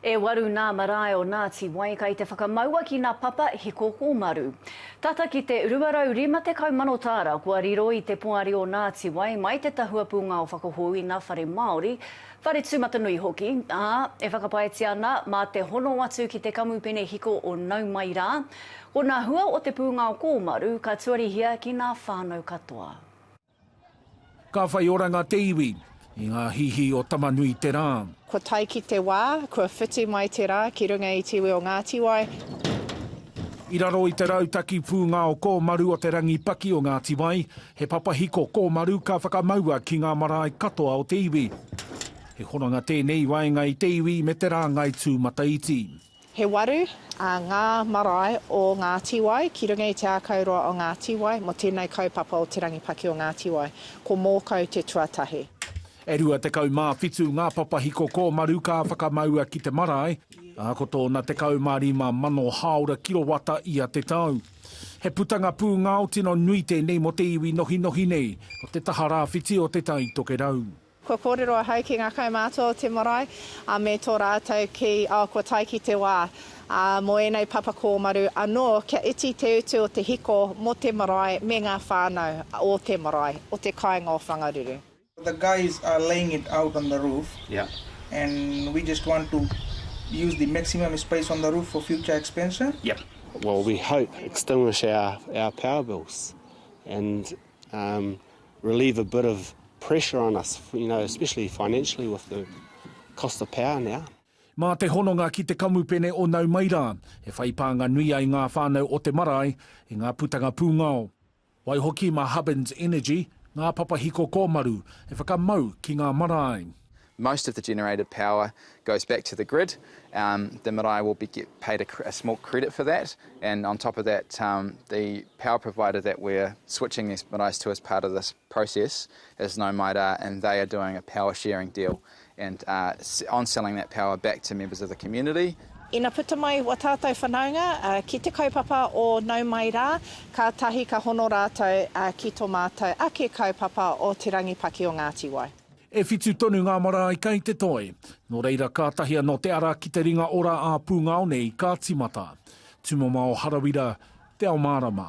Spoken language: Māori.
E waru nā marae o Nāti Wai kai te whakamaua ki nā Papa Hiko Kōmaru. Tata ki te 250 mano tāra kua riro i te poari o Nāti Wai mai te tahua pūngao whakahou i nā whare Māori, whare tūmatanui hoki, ā, e whakapaetia ana mā te hono atu ki te kamupene hiko o Nau Mai Rā, ko nā hua o te pūngao kōmaru ka tuarihia ki nā whānau katoa. Ka whai oranga te iwi. I ngā hihi o Tama-nui-te-rā. Kua tae ki te wā, kua whiti mai te rā ki runga i te iwi o Ngāti Wai. I raro i te rautaki pūngao kōmaru o te rangi paki o Ngāti Wai, he papahiko kōmaru ka whakamaua ki ngā marae katoa o te iwi. He hononga tēnei i waenga i te iwi me te rāngai tūmataiti. He waru ngā marae o ngā tīwai ki runga i te ākauroa o ngā tīwai mō tēnei kaupapa o Te Rangipaki o Ngā Tīwai. Ko Mōkau te tuatahi. E rua tekau mā whitu ngā papahiko kōmaru ka whakamaua ki te marae, ā, ko tōna tekau mā rima mano hāora kirowata ia te tau. He putanga pūngao tino nui tēnei mō te iwi nohinohi nei, ko te taha rāwhiti o Te Tai Tokerau. Kua kōrero ahau ki ngā kaumātua o te marae, ā, me tō rātou ki, ā, kua tae ki te wā, ā, mō ēnei papa kōmaru anō kia iti te utu o te hiko mō te marae me ngā whānau o te marae, o te kāinga o Whangaruru. The guys are laying it out on the roof and we just want to use the maximum space on the roof for future expansion. Well we hope extinguish our power bills and relieve a bit of pressure on us, you know, especially financially with the cost of power now. Mā te hononga ki te kamupene o Nau Mai Rā, e whai pānga nui ai ngā whānau o te marae i ngā putanga pūngao. Waihoki mā Hubbins Energy, ngā papahiko kōmaru e whakamau ki ngā marae. Most of the generated power goes back to the grid, the marae will be get paid a small credit for that and on top of that the power provider that we're switching these marais to as part of this process is Nau Mai Rā and they are doing a power sharing deal and on selling that power back to members of the community. Ina puta mai wā tātou whanaunga ki te kaupapa o Nau Mai Rā, kātahi ka hono rātou ki tō mātou ake kaupapa o Te Rangi Paki o Ngāti Wai. E whitu tonu ngā marae kei te toe, nō reira kātahi anō te ara ki te ringa ora ā-pūngao nei ka tīmata. Tūmamao Harawira, Te Ao Mārama.